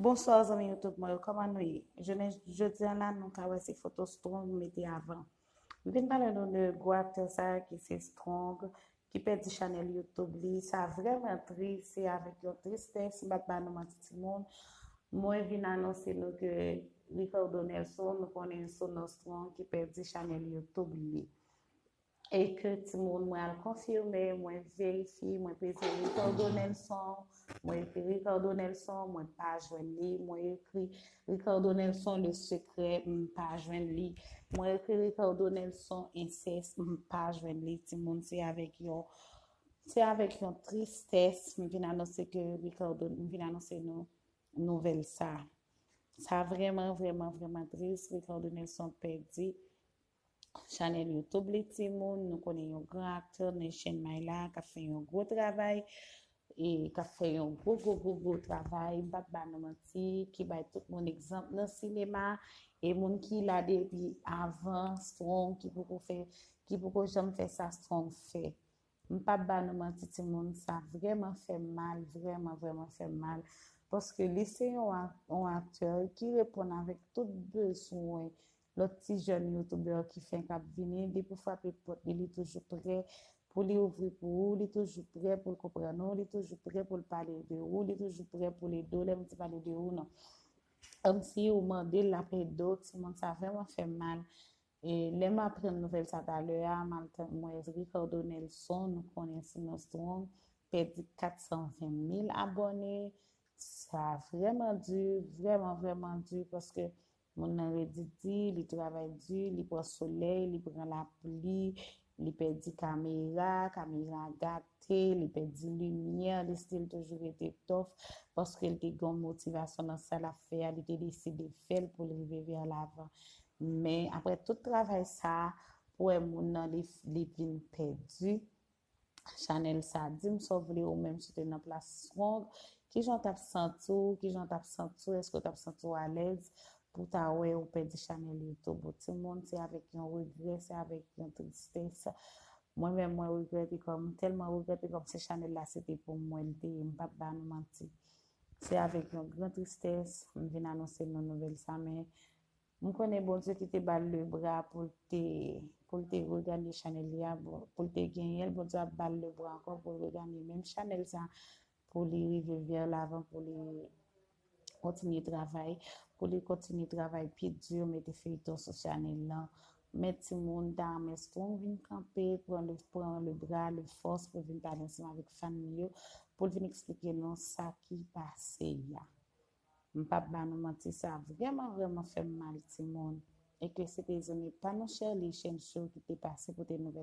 Bonsoir zanmi youtube mwen yo koman nou ye jounen jodi an la nou ka wè se foto strong mete avan m vin pale nou de gwo aktè sa ki se strong ki pèdi chanèl youtube li sa vrèman tris se avèk yon tristès m pap ba nou manti ti moun mwen vin anonse nou ke Ricardo Nelson nou konnen sou non strong ki pèdi chanèl youtube li. E ke timoun mwen al konfime, mwen verifi, mwen peze Ricardo Nelson, mwen ekri Ricardo Nelson, mwen pa jwenn li, mwen ekri Ricardo Nelson le secret, m pa jwenn li, mwen ekri Ricardo Nelson incest, m pa jwenn li, timoun se avèk yon, se avèk yon tristès m vin anonse ke Ricardo, m vin anonse nou nouvèl sa. Sa vreman, vreman, vreman tris, Ricardo Nelson pèdi. Chanel YouTube li timoun, nou konnen yon gran aktè men chen may la kap fè yon gwo travay e kap fè yon gwo gwo gwo gwo travay, m pap ba nou manti, ki bay tout moun egzanp nan sinema e moun ki la depi avan Strong ki poko fè, ki poko janm fè sa Strong fè. M pap ba nou manti timoun, sa vrèman fè m mal, vrèman vrèman fè m mal paske li se yon aktè ki reponn avèk tout bezwen Lòt ti jèn youtubeur ki fenk ap vini, depi w frape pòt li, li toujou prè pou li ouvri pou ou, li toujou prè pou l konprann ou, li toujou prè pou l pale de ou, li toujou prè pou l ede w, lè m di pale de ou nan kòmsi ou mande l l ap ede w, ti moun sa vrèman fè m mal e lè m aprann nouvèl sa talè a m al tande m wè Ricardo Nelson nou konnen sou non Strong pèdi 420 mil abòne sa vrèman di, vrèman vrèman di paske Moun nan redi di, li travay di, li pran solèy, li pran lapli, li pèdi kamera, kamera a gate, li pèdi limyè, li stil toujou rete tòf paske li te gen yon motivasyon nan sa l ap fè a, li te deside fè l pou l rive vè lavan. Men, aprè tout travay sa a, pou wè moun nan li vin pèdi, Chanel sa dim sa w vle ou menm si w te nan plas Strong kijan w tap santi w kijan w tap santi w èske w tap santi w alèz pou ta wè ou pèdi chanel YouTube ou timoun se avèk yon regrè se avèk yon tristès mwen menm mwen regrèt e kòm tèlman regrèt e kòm se chanel la se te pou mwen li te ye m pap ba nou manti se avèk yon gran tristès m vin anonse nou nouvèl sa men M konnen Bondye ki te bal le bra poul te poul te reganye chanèl li a bon poul te genyenl Bondye ap bal le bra ankò poul reganye menm chanèl sa pou li rive vè lavan pou li kontinye travay pou li kontinye travay pi di mete feyton sou chanèl lan men timoun ta renmen si poun vin kanpe pran le pran le bra le fòs pou vin pale ansanm avèk fan li yo poul vin eksplike nou sa ki pase ya. M pap ba nou manti sa vrèman vrèman fèm mal timoun. Eke se te zanmi pa nou Sherley Chencho ki te pase pote nouvèl la.